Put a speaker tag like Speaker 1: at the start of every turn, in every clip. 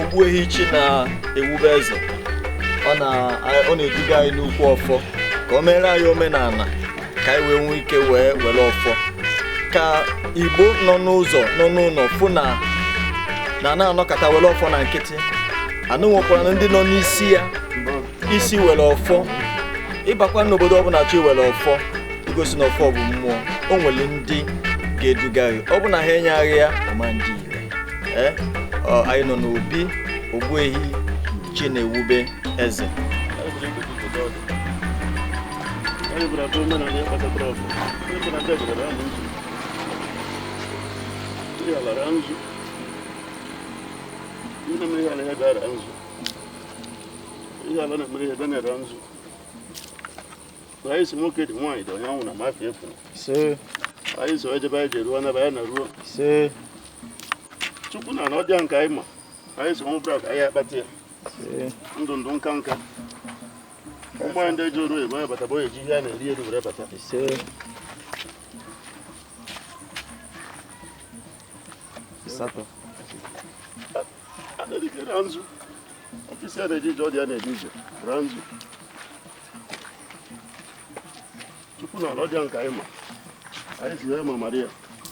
Speaker 1: ogbuehi chi na-ewube eze ọ na-eduga anyị n'ukwu ọfọ ka o meere anyị omenala ka anyị wee nwee ike wee were ọfọ ka igbo nọ n'ụzọ nọ n'ụlọ fụ na anaa anọkata were ọfọ na nkịtị anụ nwekwara na ndị nọ n'isi ya isi were ọfọ ị bakwa n'obodo ọbụla chọ iwere ọfọ igosi na ọfọ bụ mmụọ o nwere ndị ga-eduga gị ọ bụ na ha enyeghị ya ọ ma-adị ire ee ọ, anyị nọ n'obi ogbuehi chinewube eze
Speaker 2: anyị sị nwoke dị nwaanyị dị onye anwụna mafi efu anyị so ejebe anyị ji eruo n'ebe anyị na-eruo chukwu na na ọdịa nke anyị ma anyị so nwụbra ka anyị akpata ya ndụ ndụ nka nka ụmụ ndị ji oru ebe bata bụ eji ihe a na-eri eri were bata asatọ na-erike na nzu ọfisi a na-eji ije ọ dị ya na-eji ije na nzu chukwu na ala ọdịa nke anyị ma anyị si ya ma mara ya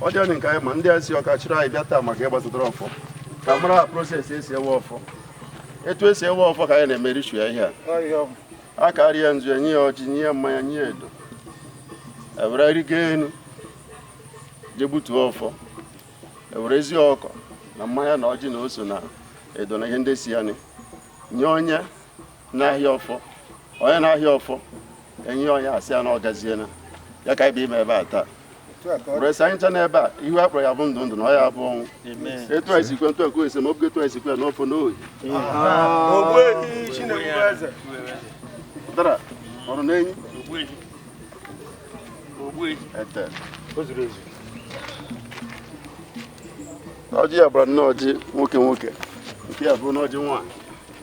Speaker 2: ọ dị anyị nke anyị ma ndị a si ọka chịrị anyị bịa taa maka ihe gbasara ọfọ ka a mara process esi ewe ọfọ etu esi ewe ọfọ ka anyị na-eme ritual ihe a a ka arịa nzu enye ya ọjị nye ya mmanya nye ya edo ewere rigo enu je gbutuo ọfọ ewere ezi ọkọ na mmanya na ọjị na ose na edo na ihe ndị so ya nye onye n'ahịa ọfọ onye n'ahịa ọfọ enye onye asị ya na ọ gaziena ya ka ebe ime ebe a taa blessị anyị ncha n'ebe a ihu a kpọrọ ya bụ ndụ ndụ na ọ ya bụ ọnwụ etu anyị sikwe ntụ ekwe ese ma ọ bụ etu anyị sikwe n'ofe n'ohi dara ọrụ n'enyi ete ọjị ya gbara anọ ọjị nwoke nwoke nke ya bụrụ n'ọjị nwaanyị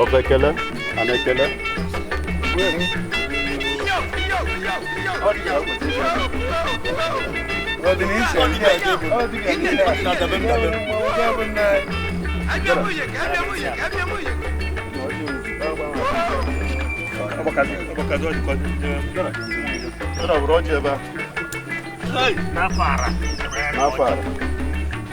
Speaker 2: ọ bụ ekele a na-ekele Ọ na-abụrụ ọjị ebe a n'afọ a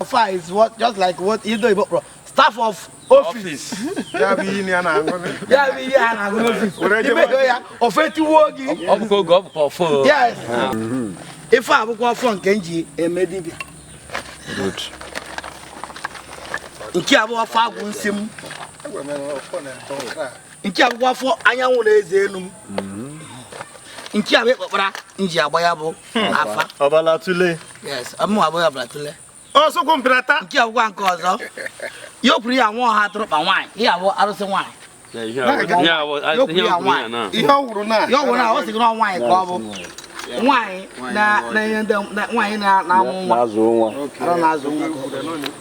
Speaker 3: Ọfọ is what
Speaker 4: just like what ndị oyibo kpọrọ staff of office. Ya bụ ihe
Speaker 2: a na-aṅụ. Ya bụ ihe
Speaker 4: a na-aṅụ n'ofis. Imego ya ọfọ tigbuo gị. Ọ bụkwa oge ọ bụkwa ọfọ. Yes. Ife a bụkwa ọfọ nke m ji eme dibịa. Nke a bụ ọfọ agwụ nsị m. nke a bụkwa ọfọ anyanwụ na eze enu m mm-hmm. nke a bụ akpụkpara m ji agba ya bụ afa ọbala tule
Speaker 1: yes ọmụ abụ
Speaker 4: ya ọbala tule ọsụkwụ mpịrata
Speaker 2: nke a bụkwa nke ọzọ
Speaker 4: ya okwuru ya nwa ọha atụrụkpa nwaanyị ya bụ arụsị
Speaker 3: nwaanyị ihe ọ wụrụ
Speaker 4: na ya ọ wụrụ na ọ sị gị na nwaanyị ka ọ bụ nwaanyị na-enye ndị nwaanyị na-amụ nwa na-azụ nwa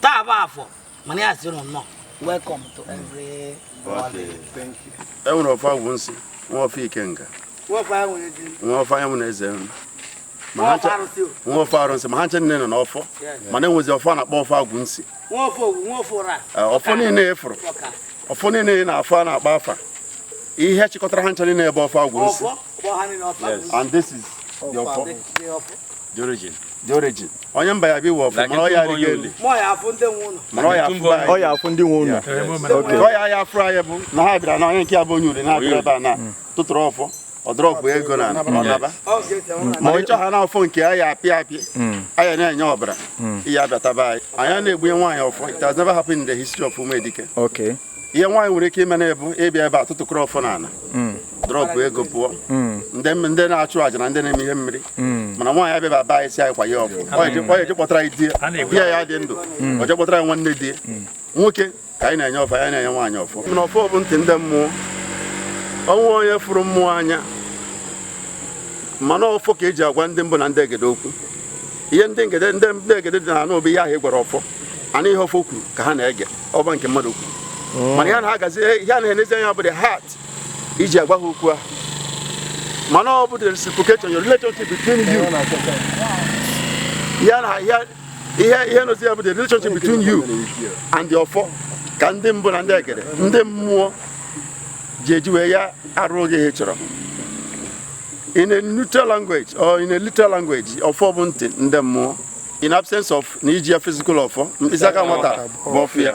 Speaker 4: taa bụ afọ mana anyị sị ụnụ nnọọ welcome to
Speaker 2: every e nwere ọfọ agwụ nsị nwee ọfọ ikenga
Speaker 4: nwee ọfọ anyanwụ na eze
Speaker 2: enu nwee ọfọ arụsị ma ha ncha niile nọ n'ọfọ mana e nwezi ọfọ a na-akpọ ọfọ agwụ
Speaker 4: nsị ọfọ niile ị
Speaker 2: fụrụ ọfọ niile na afọ a na-akpa afa ihe chịkọtara ha ncha niile bụ ọfọ agwụ nsị and this is the ọfọ
Speaker 3: The origin. The
Speaker 2: origin. Onye mba ya bi ọfọ mara ọya ri geli. Ma ọ ya-afụ ndị
Speaker 4: nwe ụlọ. Mara ọ ya-afụ ba. Ọ
Speaker 2: ya-afụ ndị nwe
Speaker 1: ụlọ. Okay. Ọ ya
Speaker 2: ya-afụ anyị bụ na ha bịara na onye nke a bụ onye uri na-abịara ebe a na tụtụrụ ọfọ. Ọ drọpụ ego na ọ naba. Ma onye chọ ha na ọfọ nke a ya-apị apị. A ya na-enye ọbara. Ị ya-abịata be anyị. Anyị ana-egbunye nwaanyị ọfọ. It has never happened in the history of Umedike. Okay.
Speaker 1: ihe nwaanyị nwere
Speaker 2: ike ime na ọ bụ ịbịa ebe a tụtụkọrọ ọfọ n'ala hmm. drọpụ ego pụọ hmm. ndị na-achụ àjà na ndị na-eme ihe mmiri hmm. mana nwaanyị abịa be anyị sị anyị kwa ya ọfọ o je kpọtara anyị di ya ya dị ndụ o je kpọtara anyị nwanne di nwoke ka anyị na-enye ọfọ anyị ana-enye nwaanyị ọfọ mana ọfọ bụ ntị ndị mmụọ o nweghị onye fụrụ mmụọ anya mana ọfọ ka e ji agwa ndị mbụ na ndị egede okwu ihe ndị egede ndị egede dị na-anụ bụ ihe ahụ ị gwara ọfọ ana ihe ọfọ kwuru ka ha na-ege ọ bụ nke mmadụ kwuru hmm. mana ihe na-agazi ihe a na-enezi anya bụ the heart i ji agwa ha okwu a mana ọ bụ the reciprocation your relationship between you ya na ya ihe ihe nọzi ya bụ the relationship between you and the ọfọ ka ndị mbụ na ndị egede ndị mmụọ ji eji wee ya arụọ gị ihe ị chọrọ in a neutral language or in a literal language ọfọ bụ ntị ndị mmụọ in absence of na iji ya physical ọfọ mkpịsị aka nwata bụ ọfọ ya